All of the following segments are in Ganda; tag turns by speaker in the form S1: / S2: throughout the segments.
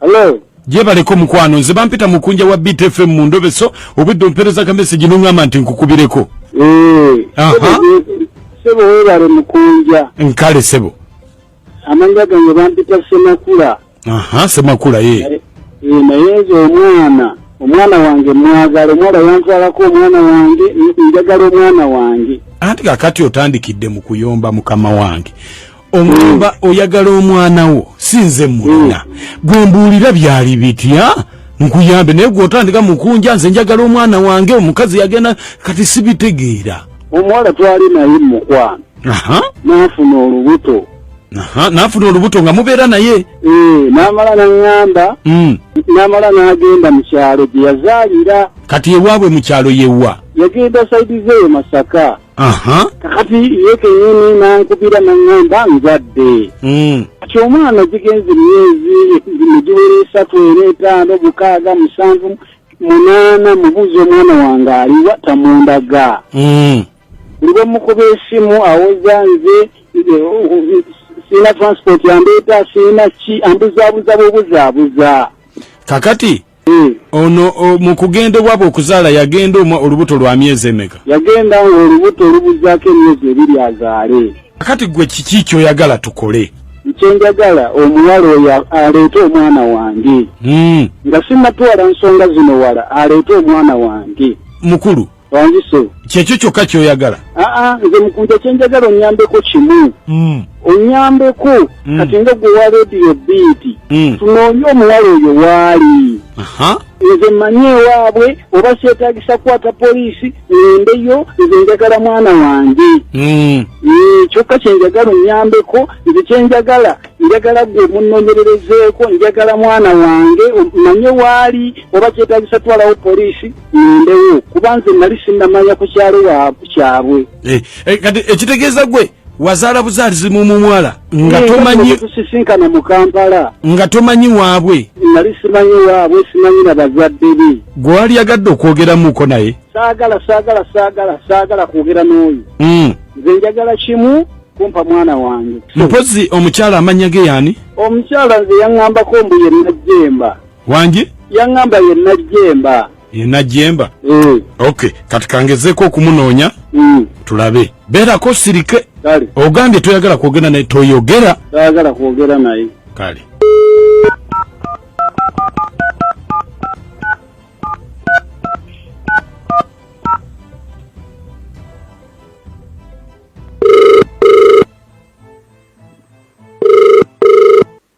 S1: Hello. gyebaleko
S2: mukwano nze bampita mukunja wa btfm mu ndobe so obwedde ompereza ka mesegi noŋŋamba nti nkukubireko eh,
S1: sebo webale mukunja nkale sebo
S2: amanya
S1: gange bampita semakula aha semakula
S2: ye eh, eh, naye
S1: nze omwana omwana wange mwagala omwana yantwalako omwana wange njagala omwana wange anti kakati
S2: otandikidde mu kuyomba mukama wange omwemba mm. oyagala omwana wo sinze mulina mm. gwembuulira byali bitya nkuyambe naye gwotandika mukunja nze njagala omwana wange omukazi yagenda kati sibitegeera omuwala twali
S1: naye mumukwano nafuna olubuto
S2: nafuna olubuto nga mubeera naye eh, namala
S1: naŋamba mm. namala nagenda mukyalo gyeyazaalira kati ewaabwe
S2: mukyalo yewa yagenda saidi
S1: zeyo masaka kakati ye kenyini nankubira naŋŋamba nzadde hmm. kati omwana gigenze emyezi negiwera esatu era etaano mukaaga musanvu munaana mubuuza omwana wange aliwa tamundaga hmm. buli bwemukuba esimu awoza nze eh, sirina transport yandeeta sirina ki ambuzaabuza bubuzaabuza kakati
S2: hmm. ono mu kugenda ewaabwe okuzaala yagenda omwa olubuto lwa myezi emeka yagenda nga olubuto
S1: olubuzaako emyezi ebiri azaale kati gwe kiki
S2: kyoyagala tukole kyenjagala
S1: omuwala oyo aleete omwana wange hmm. nga simatwala nsonga zino wala aleete omwana wange mukulu
S2: wanzise
S1: kyekyo kyokka
S2: kyoyagala aa ah, ah, nze mukunja
S1: kyenjagala onyambeko kimu mm. onyambeko mm. kati nga gwe wa rediyo biiti mm. tunoonye omuwala oyo waali nze mmanyi ewaabwe oba seetagisa kukwata poliisi ngendeyo nze njagala mwana wange eh, kyokka kyenjagala onyambeko nze kyenjagala njagala gwe munonyererezeeko njagala mwana wange manye waali oba kyetagisa twalawo poliisi ngendewo kuba nze nali sinnamanya ku kyalo kyabwe eh, eh, kati
S2: ekitegeeza gwe wazaala buzaalizi mu mumwala nga eh, tomanyitusisinkana mu
S1: kampala nga tomanyi
S2: waabwe nali simanyi
S1: waabwe simanyi na bazadde be gwe wali yagadde
S2: okwogeramuko naye saagala saagala saagala saagala kwogera n'oyo hmm. nze njagala kimu kumpa mwana wange mpozi omukyala amanya ge yani omukyala nze
S1: yaŋŋambako mbu ye najjemba wangi
S2: yaŋŋamba ye
S1: najjemba ye najjemba
S2: mm. ok kati kangezeeko okumunoonya mm. tulabe beerako sirike kale ogambye toyagala kwogera naye toyogera toyagala kwogera
S1: naye kale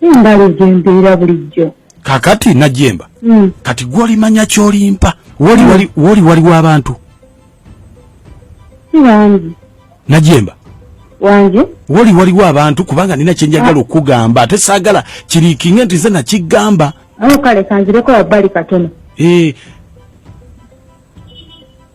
S2: mbalidde embeera
S3: bulijjo kakati najemba
S2: mm. kati gwolimanya kyolimpa woli wali mm. woli wali wabantu
S3: wangi najemba
S2: wangi
S3: woli wali wabantu
S2: kubanga nina kyenjagala ah. okugamba ate sagala kirikinge nti ze nakigamba awo kale kanzireko
S3: wabbali katono eh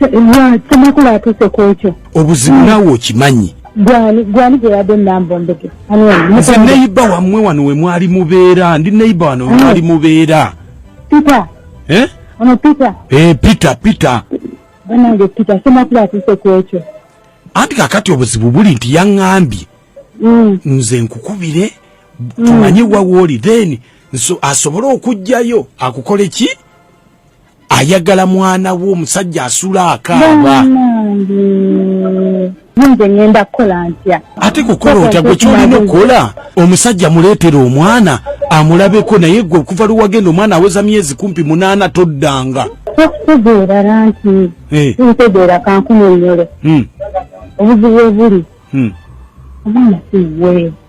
S3: lwaki amakulu atuuse ku ekyo obuzibu naawe
S2: okimanyi gwani
S3: gyeyadde enamba ombege nze neyiba
S2: wammwe wano we mwali mubeera ndi neyiba wano we mwali mubeera pita
S3: eh? ono pita eh, pita pita
S2: banange
S3: pita semakulu atuuse ku ekyo anti kakati
S2: obuzibu buli nti yaŋambye mm. nze nkukubire mm. tumanye wawooli then asobole okujjayo akukole ki ayagala mwana wo omusajja asula akaaba
S3: nze ngenda kukola ntya ate kukola otya gwe
S2: kyolina okukola omusajja muleetera omwana amulabeko naye gwe okuva lwewagenda omwana aweza myezi kumpi munaana toddanga okutegeera
S3: lanti eh. ntegeera kankunyonyole hmm. obuzibu obuli hmm. omwana siwe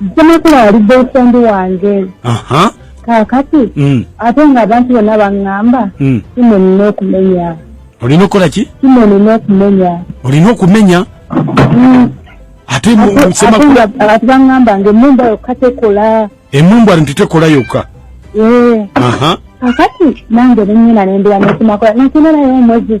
S3: Ssemakula yali boyfriend wange. Aha. Kaakati mm. ate nga abantu bonna baŋŋamba mm. kino nina okumenya. Olina okukola ki?
S2: Kino nina okumenya.
S3: Olina
S2: okumenya? Mm. Ate Ssemakula abantu baŋŋamba
S3: nga emmumba yokka tekola. Emmumba nti
S2: tekola yokka. Ee. Eh. Aha. Kaakati
S3: nange ne nnyina ne mbira ne Ssemakula nakino naye omwezi.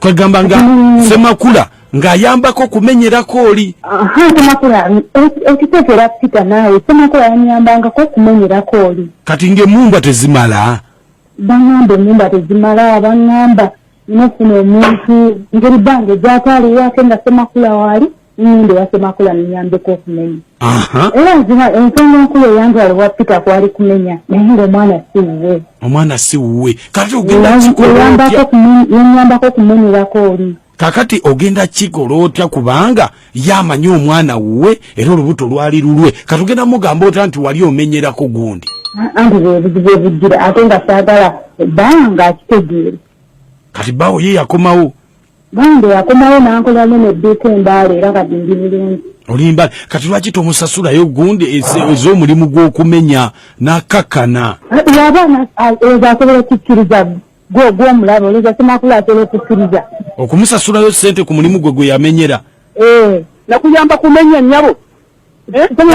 S3: kwegamba nga mm.
S2: semakula ng'ayambako okumenyerako oli
S3: okitegeera pita naawe semakula yanyambangako okumenyerako oli kati ng'emumbwa
S2: tezimala bangamba
S3: enyumba tezimala bangamba nofuna omuntu ngeri bange gyataliwo ate nga semakula waali nende wasemakula ninyambeko okumenya era nzima ensonga enkulu eyantwala owa peter kwali kumenya naye nga omwana si
S2: wuwe omwana si wuwe kati ogendaenyambako
S3: okumenyerako oli kakati ogenda
S2: kikola otya kubanga yamanyi omwana wuwe era olubuto lwali lulwe kati ogenda mugamba otya nti wali omenyerako gundi anti bwebuzibu
S3: obujjira ate nga saagala banga akitegeere kati
S2: bawo ye yakomawo Bambi
S3: yakomawo n'ankola nyo ne ddiika embaala era kati ndi bulungi. Olimba kati
S2: lwaki tomusasulayo gundi ez'omulimu gw'okumenya n'akakkana? Yabaana
S3: ezo asobola okukkiriza gwe gw'omulaba olowooza Ssemakula asobola okukkiriza? Okumusasulayo
S2: ssente ku mulimu gwe gwe yamenyera? Ee.
S1: Nakuyamba kumenya nnyabo.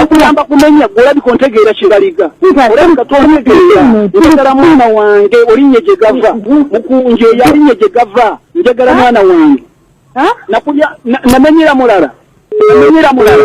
S1: okuyamba eh, kumenya gwe olabika ontegeera kibaliga olabika tontegeera njagala mwana wange olinye gye gava mukunje yalinye gye gava njagala mwana wange nakulya namenyera mulala namenyera mulala